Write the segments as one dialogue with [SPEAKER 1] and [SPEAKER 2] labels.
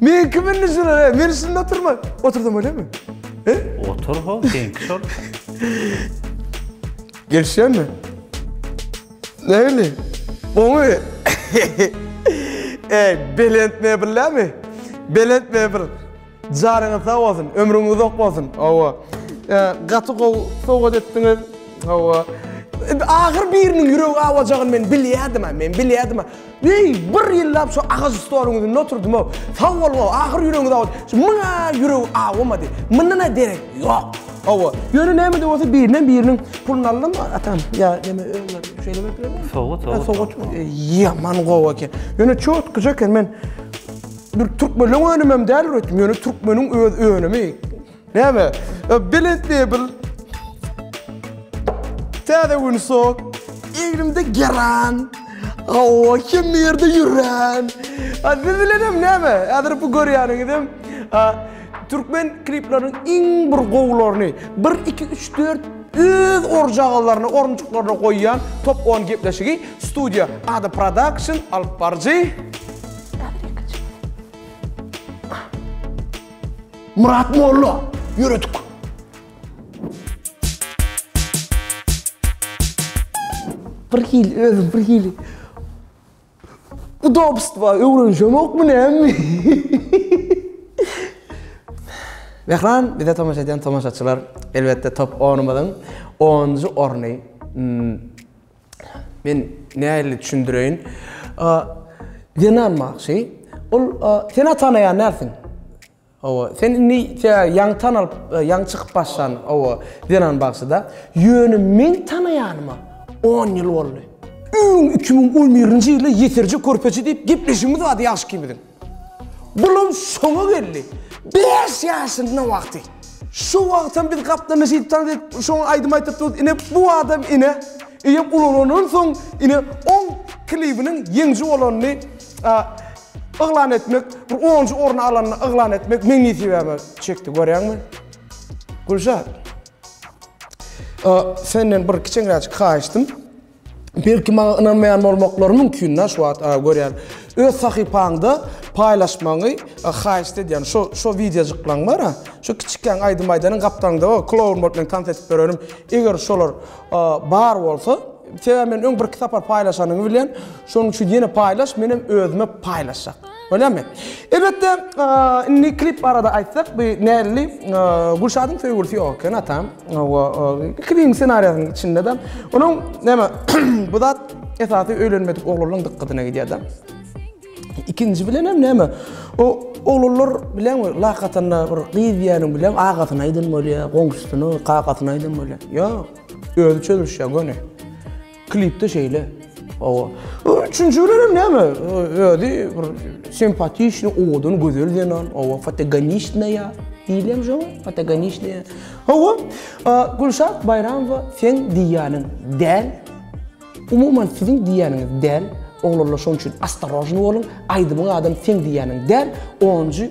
[SPEAKER 1] Men kim indi şuna? he? Men üstünde oturman. Oturdum öyle mi? He? Otur
[SPEAKER 2] ho, seňki şol.
[SPEAKER 1] Gelişýär mi? Näli? Oňa Ey, belent mebellämi? Belent mebel. Jaryňyz sag bolsun, ömrüňiz uzak bolsun. Hawa. E, Gaty gowy sowgat etdiňiz. Hawa. E, Ahyr biriniň ýüregi awajagyn men bilýärdim, ha, men bilýärdim. ha. Weý, bir ýyllap şu agaç stoluň üznde oturdym-ow. Sag boluň-ow, ahyr ýüregiňiz awa. Şu muňa ýüregi awamady. Mundan-a derek ýok. Hawa. Ýöne näme-de bolsa birinden biriniň puluny aldym, atam, ýa näme, şeýlemek bilen. Sowgat, sowgat. Sowgat, ýaman gowy eken. Ýöne çotkyja eken, men bir türkmenleň önümem däl üretdim, ýöne türkmeniň öz önümi. Näme? Ö, Belent mebel. Täze gün sok. Egnimde geran. Awa, kim ýerde ýüren. A, siz bilenem näme? Häzir bu görýäniňizem, a, türkmen kliplarynyň iň bir gowularyny, 1, 2, 3, 4 öz orjagalaryny, orunjyklaryny goýýan top on gepleşigi studiýa Ada Production alyp baryjy. Murat molla ýöredik. Bir hili özüm bir hili. Bu dopst var öwrenşem yok mu ne mi? Mehran bize tomaş eden tomaşaçylar elbette top 10'umuzun 10. orny hmm, Men nähili düşündireýin? Zenan bagşy, ol sen atanaýan dälsiň. Owa, sen indi ýaňy tanalyp, ýaňy çykyp başlan, owa, zenan bagşyda. Ýöne men tanaýanyma on ýyl boldy. Öň iki müň on birinji ýylda ýeserje körpeje diýip gepleşigimiz bardy ýagşyky biziň. Bulam şoňa geldi. Bäş ýaşynda wagty. Şo wagtam biz gaplaňa şeýdip tanşyp, şoňa aýdym aýdypdyrys. Ine, bu adam ine, eýýäm ulalandan soň, ine, oň klibiniň ýeňiji bolanyny yglan etmek, bir onunjy orny alanyny yglan etmek meň nesibäme çekdi, görýäňmi? Gülşat, senden bir kiçeňräçik haýyşdym. Belki maňa ynanmaýan bolmaklary mümkin da şu wagt görýän. Öz sahypaňda paýlaşmagyňy haýyşt edýän. Şo şo wideojiklaň bar-a. Şo kiçikäň aýdym aýdanyň gapdalyňda bar, kloun bolup men tans edip berenim. Eger şolar bar bolsa, sebäbi men öň birki sapar paýlaşanyňy bilýän. Şonuň üçin ýene paýlaş, menem özüme paýlaşjak. Bolýamy? Elbetde, indi klip barada aýtsak, bu näli? Gülşadyň söýgülisi ýok eken, atam. Hawa, klibiň ssenariýasynyň içinde-de onuň näme, bu zat esasy öýlenmedik oglanlaryň dykgatyna gidýär-de. Ikinji bilenem näme, o oglanlar bilen bir lak atanda bir gyz diýýäniň bilen agasyna aýdan bolýar, goňşusyna, kakasyna aýdan bolýar. Ýok, özi çözülişýär göni. Klipde şeýle. Hawa. Üçünji bilenem näme? Özi bir simpatiçny, owadan, gözel zenan. Hawa, fotogonistnaya diýilýärmi şoňa? Fotogonistnaya. Hawa. Gülşat Baýramowa seň diýýäniň däl. Umuman siziň diýýäniňiz däl. Oglanlar şonuň üçin astarožny boluň. Aýdymyň adam seň diýýäniň däl. Onunjy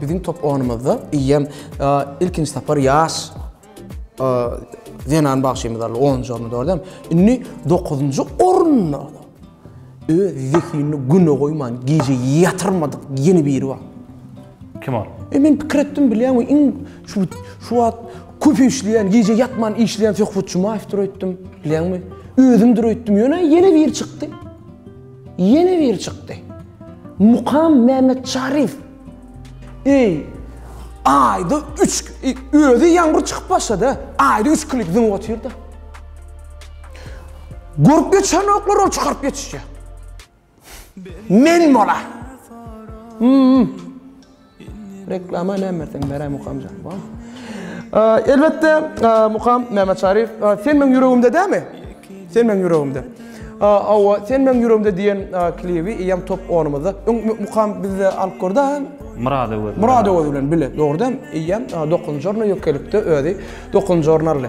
[SPEAKER 1] Biziň top onumyzda eýýäm ilkinji sapar ýaş zenan bagşymyz aldy, onunjy orny, dogrudanam. Indi dokuzynjy orunda öz zehinini güne goýman, gije ýatyrmadyk ýene biri bar. Kim ol?
[SPEAKER 2] E men pikir etdim, bilýäňmi,
[SPEAKER 1] iň şu şu wagt köp işleýän, gije ýatman işleýän Söhbet Jumaýewdir öýtdüm, bilýäňmi? Özümdir öýtdüm, ýöne ýene biri çykdy. Ýene biri çykdy. Mukam Mämmetçaryýew. Eý, aýda üç, özi ýaňňur çykyp başlady, aýda üç klip zyňyp otyr-da. Görüp geçenoklar ol çykaryp geçişýär. Men bolar. Reklama näme sen beräý Mukamjan. Elbetde Mukam Mämeçaryýew sen meň ýüregimde dämi? Sen meň ýüregimde. Awa sen meň ýüregimde diýen klibi eýýäm top 10-ymyzda. Öň Mukam bizde alyp gördi ha. Murad Öwez. Murad Öwez bilen bile dogry dämi? Eýýäm 9-njy orna ýökelikde özi 9-njy orun aldy.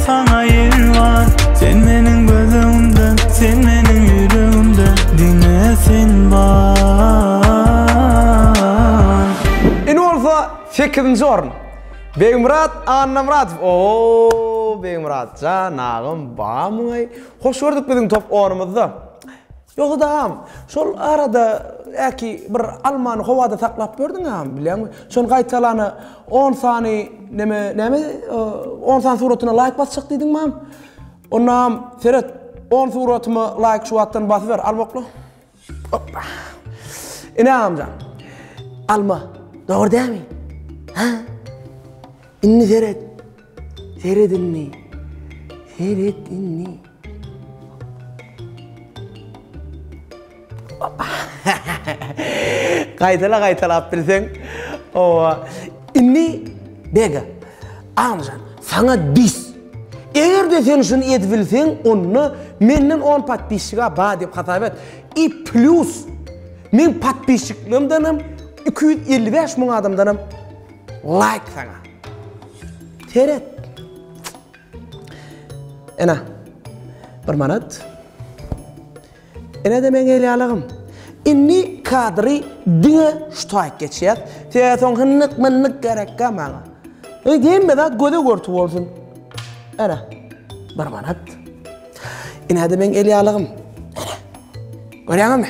[SPEAKER 3] Saňa ýer bar Sen meniň göz öňümde Sen meniň ýüregimde Diňe sen bar
[SPEAKER 1] Indi bolsa sekizinji orun Begmyrat Annamyradow Oooo Begmyrat jan agam bamyňaý Hoş gördük biziň top orumyzda Ýogsada agam şol arada äki bir almany howada saklap ýördüň agam bilýäňmi şony gaýtalana On sany neme name on sany suratyna laýk basjak diýdiň mam. Onam seret on suratyma laýk şu wagtdan basyber al bokla. Hoppa. Ine agamjan. Alma. Dogry dämi? Ha? Indi seret. Seret indi. Seret indi. Gaýtala gaýtalap bilseň owa. Indi Bega Amjan saňa dis. Egerde sen şuny edip bilseň onda menden on podpisçiga bar diýip hasap et. I plus meň podpisçiklerimdenem iki ýüz elli bäş müň adamdanam laýk saňa. Seret. Ene, bir manat. Ene-de meň elýalygym. Indi kadry diňe şu taýyk geçýär. Sebäbi soň hynnyk-mynnyk gerekkä maňa. Indi hemme zat göze görtü bolsun. Ene, bir manat. Ene-de meň elýalygym. Ene, görýäňizmi?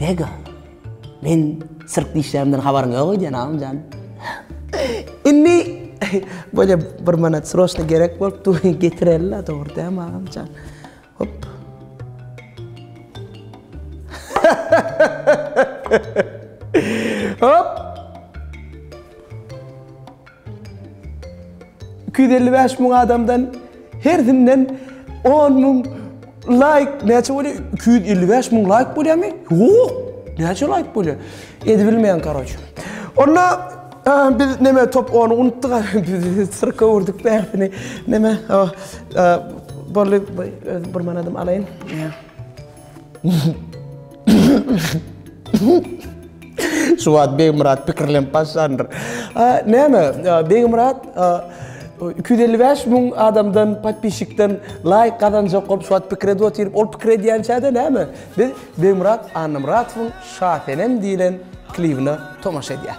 [SPEAKER 1] Bega, men sirk dişlerimden habaryň ýok öýdýän agam jan. Indi bolýa bir manat sroçno gerek bolupdy, getireli-la, dogry dämi agam jan? Hop. Hop. Iki ýüz elli bäş müň adamdan hersinden on müň laýk näçe bolýar? Iki ýüz elli bäş müň laýk bolýarmy? Ýok! Näçe laýk bolýar? Edibilmeýän karoç. Onda biz näme top ony unutdyk biz syrka urdyk bärsini näme boldy bir manadym alaýyn. Şu wagt Begmyrat pikirlenip başlandyr. Näme, Begmyrat 255 müň adamdan, podpisçikden laýk gazanjak bolup şu wagt pikir edip otyryp, ol pikir edýänçä-de näme, biz Begmyrat Annamyratowyň Şasenem diýlen klibine tomaşa edýäs.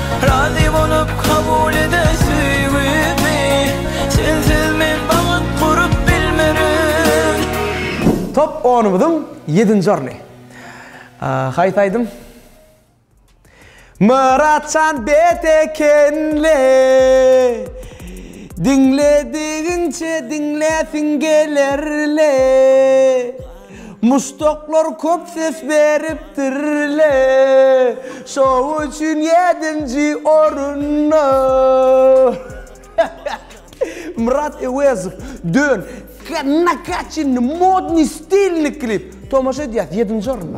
[SPEAKER 3] Razy bolup kabul ede söýgimi Sensiz men bagt gurup bilmerin.
[SPEAKER 1] Top onumyzyň ýedinji orny. Haýsy aýdym? Myratjan bet ekenle Diňledigiňçe diňläsiň gelerle. Muşdaklar köp ses beripdirle, şo üçin ýedinji orunda. Myrat Öwezow, Dön, nakatçenny, modnyý, stilnyý klip. Tomaşa edýäs, ýedinji orunda.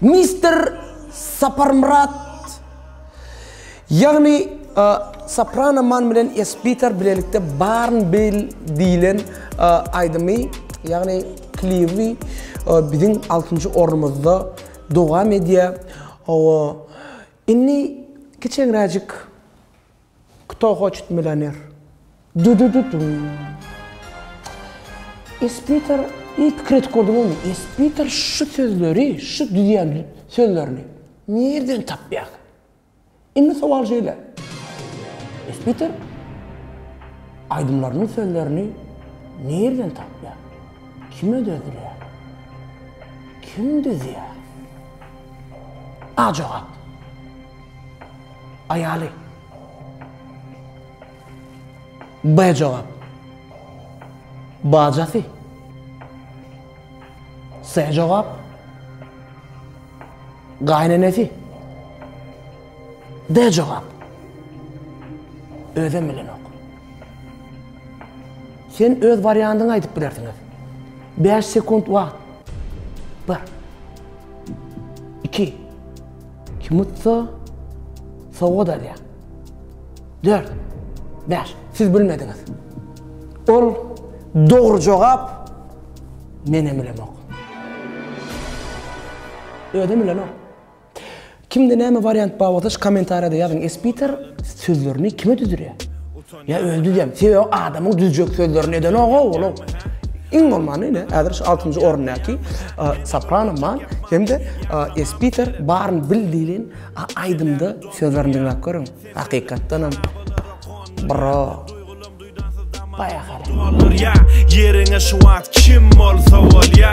[SPEAKER 1] Mister Saparmyrat Ýagny Soprano Man bilen Esbitar bilelikde Barn Bil diýilen aýdymy ýagny klibi biziň altynjy ornumyzda dowam edýär. Indi kiçeňräjik Kto hoçet milyoner? Dy-dy-dy-dum. Espiter, iý pikir edip gördüňizmi, Espiter şu sözleri, şu düzýän sözlerini nirden tapýar? Indi sowal şeýle, Espiter aýdymlarynyň sözlerini nirden tapýar? Kim ödedilýär? Kim düzýär? A jogap. Aýaly. B jogap. Bajasy. S jogap. Gaýnenesi. D jogap. Özem bilenok. Sen öz wariantyňy aýdyp bilersiňiz. 5 sekunt wagt. 1 2 Kim utsa, sowgat alýar. Dört, bäş, siz bilmediňiz. Ol dogry jogap, menem bilemok. Özem bilenok. Kimde näme wariant bar bolsa şu kommentariýada ýazyň Espiter sözlerini kime düzürýär? Ýa özi düzýämi? Sebäbi adamyň düzjek sözlerini edenok-ow ol-ow. Iň bolmanda ine, häzir şu altynjy orundäki Soprano Man hem-de Espiter Baryny bil diýlen aýdymda sözlerini diňläp görüň. Hakykatdanam bro baýakaý. Ýeriňe
[SPEAKER 4] şu wagt kim bolsa bolýa.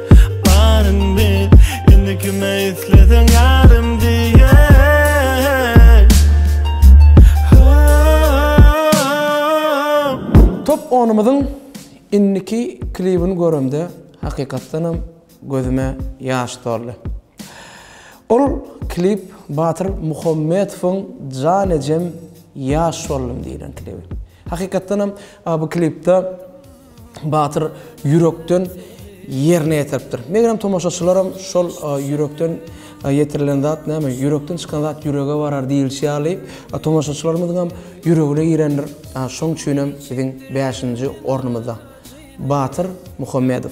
[SPEAKER 4] Baryň bil, indi kime isleseň ýarym diýen
[SPEAKER 1] Top onumyzyň indiki klibini göremde hakykatdanam gözüme ýaş doldy. Ol klip Batyr Muhammedowyň Jan ejem ýaş boldum diýlen klibi. Hakykatdanam bu klipde Batyr ýürekden ýerine ýetiripdir. Megerem tomaşaçylaram şol ýürekden ýetirilen zat näme, ýürekden çykan zat ýürege barar diýilişi ýaly, tomaşaçylarymyzyňam ýüregine girendir. Şoň üçinem biziň bäşinji ornumyzda Batyr Muhammedow.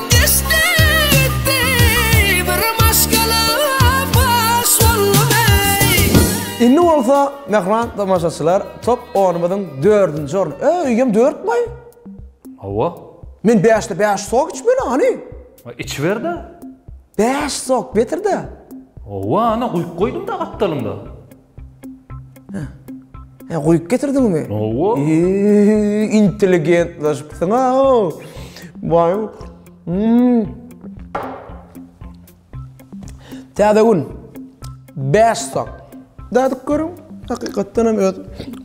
[SPEAKER 1] Indi bolsa mähriban tomaşaçylar top onumyzyň dördünji orny. Ä, öýem dört boý? Hawa.
[SPEAKER 2] Men bäşde
[SPEAKER 1] bäş sok içmeli, hany? Içiber-de.
[SPEAKER 2] Bäş
[SPEAKER 1] sok, betir-de. Hawa, ana,
[SPEAKER 2] guýup goýdum-da gapdalyňda.
[SPEAKER 1] He, goýup getirdiňmi? Hawa.
[SPEAKER 2] Intelligentlaşypsyň-a.
[SPEAKER 1] Waý. Täze gün. Bäş sag. Dadyp görüň. Hakykatdan hem öz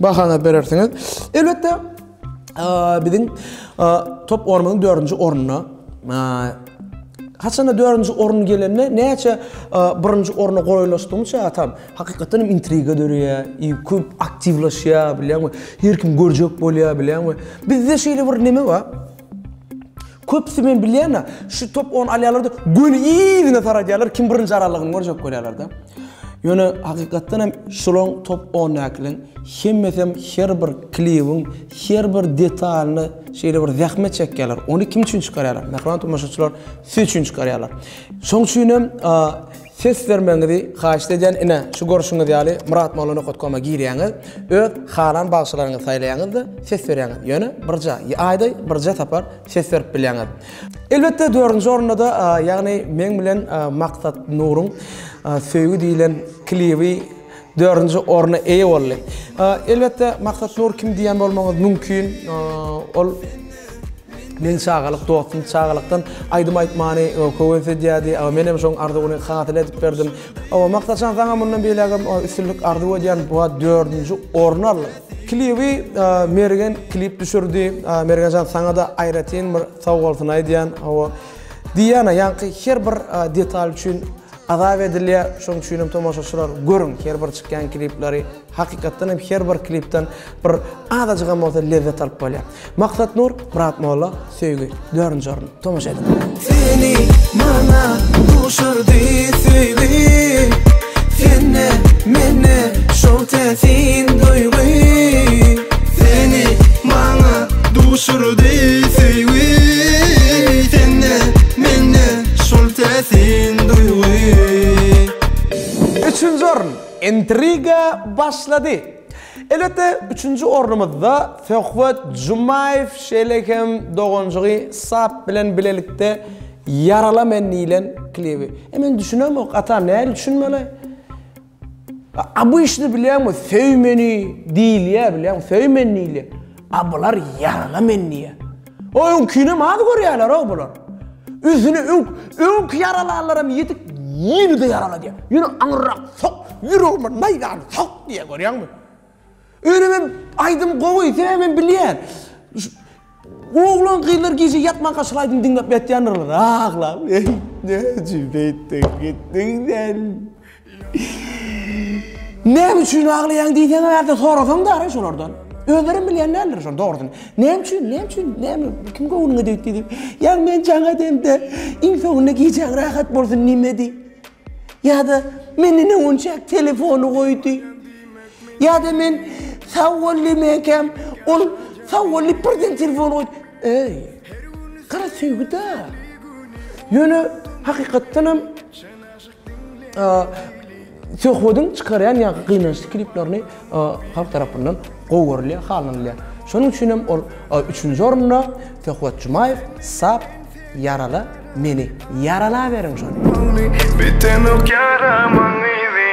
[SPEAKER 1] bahaňyzy berersiňiz. Elbetde, biziň top oýnumyzyň dördünji ornuna Haçanda dördünji orun gelende näçe birinji orna golaýlaşdygymça atam. Hakykatdan hem intriga döreýär, i köp aktiwlaşýar bilýäňmi? Her kim görjek bolýar bilýäňmi? Bizde şeýle bir neme bar. Köpüsi men bilýän-ä, şu top ony alýarlar-da, göni yzyna taradýarlar, kim birinji aralygyny görjek bolýarlar-da. Ýöne hakykatdan hem şolaň top ondakylaň hemmesi hem her bir klibiň her bir detalyny şeýle bir zähmet çekýärler. Ony kim üçin çykarýarlar? Mähriban tomaşaçylar, siz üçin çykarýarlar. Şoň üçin hem Ses bermegiňizi haýyşt edýän ine şu görşüňiz ýaly Myrat Molla Nokat Koma girýäňiz öz halan bagşylaryňyzy saýlaýaňyzda ses berýäňiz ýöne birja ýa aýda birja sapar ses berip bilýäňiz. Elbetde dördünji orundada ýagny meň bilen Maksat Nuryň Söýgi diýilen klibi Dördünji orna eýe boldy. Elbetde Maksat Nur kim diýen bolmagyňyz mümkin. Ol meniň çagalyk dostum. Çagalykdan aýdym aýtmany höwes edýärdi. Men hem şoň arzuwyny hasyl edip berdim. Maksatjan saňa mundan beýlägem üstünlik arzuw edýän. Bu dördünji orny aldyň. Klibi Mergen klip düşürdi. Mergenjan saňada aýratyn bir sag bolsun aýdýan. Diana ýaňky her bir detal üçin. Azap edilýär, şonuň üçinem tomaşaçylar görüň her bir çykýan klipleri, hakykatdan hem her bir klipden bir azajygam bolsa lezzet alyp bolýar. Maksat Nur, Myrat Molla, Söýgi, dördünji orun. Tomaşa ediň!
[SPEAKER 3] Seni maňa duşurdy söýgi Sende mende şol täsin duýgy Seni maňa duşurdy söýgi Sende mende Şol täsin duýgy.
[SPEAKER 1] Üçünji orun, intriga başlady. Elbetde, üçünji ornumyzda Söhbet Jumaýew, şeýle hem doganjygy Sap bilen bilelikde Ýarala men diýlen klibi. E men düşünemok, ata, nädip düşünmeli? Abyşny bilýäňmi söý meni diýilýä bilýäň söý men diýilýä a bular ýagla men diýýä o öňkinem az görýäleroo bular ünsüni öňk öňk ýaralanlaram ýetik ýene-de ýaraladýa ýene aňyrrak sok ýüregime naýzany sok diýýä görýäňmi. Öýnem hem aýdym gowy sebäbem bilýän. Oglan gyzlar gije ýatman gaçyl aýdym diňläp ýatýandyrlar aglap. Eý näçe beýtdin gitdiň sen. Näme üçin aglaýaň diýseň aýardan sorasaň dara şolardan. Özlerem bilýän däldir şol dogrusyny. Näme üçin näme üçin näme kim göwnüňe degdi diýip. Ýa men jaň edemde iň soňunda gijäň rahat bolsun diýmedi. Ýa-da menden öňünçäk telefony goýdy. Ýa-da men sag bol diýmeýäkäm, ol sag bol diýip birden telefony goýdy. Eý, gara söýgi-dä! Ýöne hakykatdanam söhbediň çykarýan ýaňky gynançly kliplerini halk tarapyndan gowy görülýär, halanylýar. Şonuň üçin hem ol üçünji orunda Söhbet Jumaýew Sap ýarala meni, ýaralaberiň şony! Bidenok
[SPEAKER 4] ýaramaň yzy.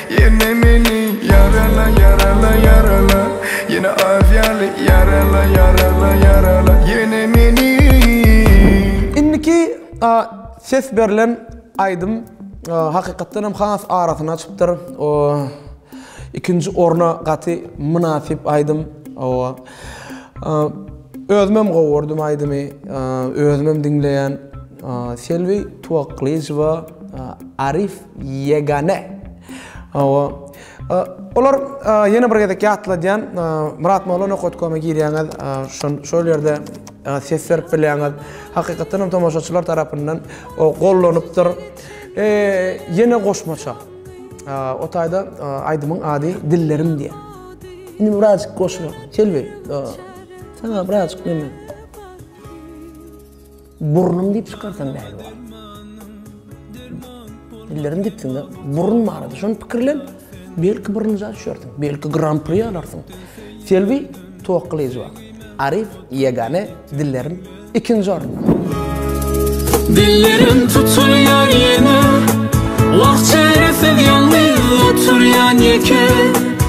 [SPEAKER 4] Ýene meni ýarala ýarala ýarala Ýene az ýaly ýarala ýarala ýarala Ýene meni
[SPEAKER 1] Indiki ses berlen aýdym hakykatdan hem has arasyna çypdyr. Ikinji orna gaty mynasyp aýdym. Özümem gowy gördüm aýdymy. Özümem diňleýän. Selbi Tuwaklyjowa Arif Ýegane. Hawa. Olar ýene bir gezek ýatladýan, Myrat Molla Nokot.com-a girýäňiz, şol ýerde ses berip bilýäňiz. Hakykatdan hem tomaşaçylar tarapyndan gollanypdyr. Ýene goşmaça. O taýda aýdymyň ady Dillerim diýýär. Indi birazjyk goşulyk. Selbi, saňa birazjyk neme. Burnum diýip çykarsam näme bar? Dillerim dipsiňde burun barada şony pikirlen. Belki birinji düşersiň, belki Grand Prix alarsyň. Selbi towakgalyjy bar. Arif ýegane dillerim ikinji orunda. Dillerim
[SPEAKER 3] tutulýar ýene. Wah çäresiz ýalňyz oturýan ýeke.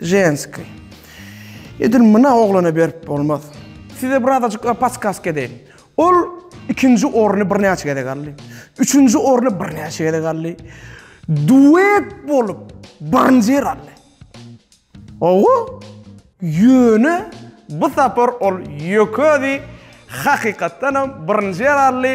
[SPEAKER 1] Ženskiý. Edil muna oglana berip bolmaz. Size bir azajyk podskask edeýin. Ol ikinji orny birnäçe gezek aldy. Üçünji orny birnäçe gezek aldy. Duet bolup birinji ýeri aldy. Hawa. Ýöne bu sapar ol ýökedi, hakykatdanam birinji ýeri aldy.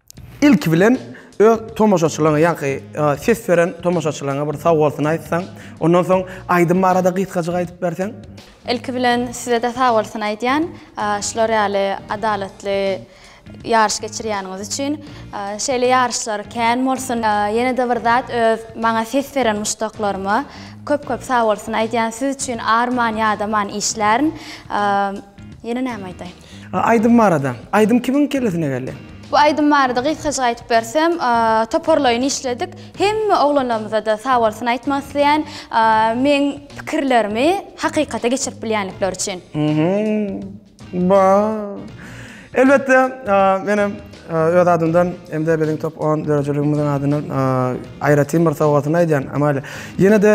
[SPEAKER 1] Ilki bilen öz tomaşaçylaryňa ýaňky ses beren tomaşaçylaryňa bir sag bolsun aýtsaň, ondan soň aýdym barada gysgajyk aýdyp berseň. Ilki bilen
[SPEAKER 5] sizede sag bolsun aýdýan, şular ýaly adalatly ýaryş geçirýäniňiz üçin. Şeýle ýaryşlar kän bolsun. Ýenede bir zat öz maňa ses beren muşdaklaryma köp köp sag bolsun aýdýan, siz üçin arman ýadaman işlärin. Ýene näme aýdaýyn. A aýdym barada.
[SPEAKER 1] Aýdym kimiň kellesine geldi? Bu aýdym barada
[SPEAKER 5] gysgajyk aýdyp bersem, toparlaýyn işledik. Hemme oglanlarymyza-da sag bolsun aýtmak isleýän, meň pikirlerimi hakykata geçirip bilýänlikleri üçin. Ba.
[SPEAKER 1] Elbetde, menem Öz adymdan hem-de biziň top 10 döredijiligimiziň adyndan aýratyn bir sowgatyny aýdýan Amalia. Ýene-de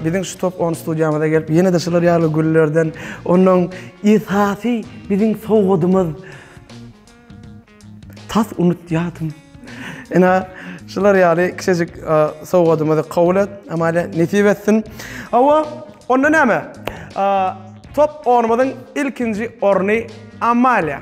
[SPEAKER 1] biziň şu top 10 studiýamyza gelip, ýene-de şular ýaly güllerden, onuň esasy biziň sowgadymyz tas unutýadym. Ene, şular ýaly kiçijik sowgadymyzy kabul et, Amalia, nesip etsin. Hawa, onda näme? Top 10-myzyň ilkinji orny Amalia.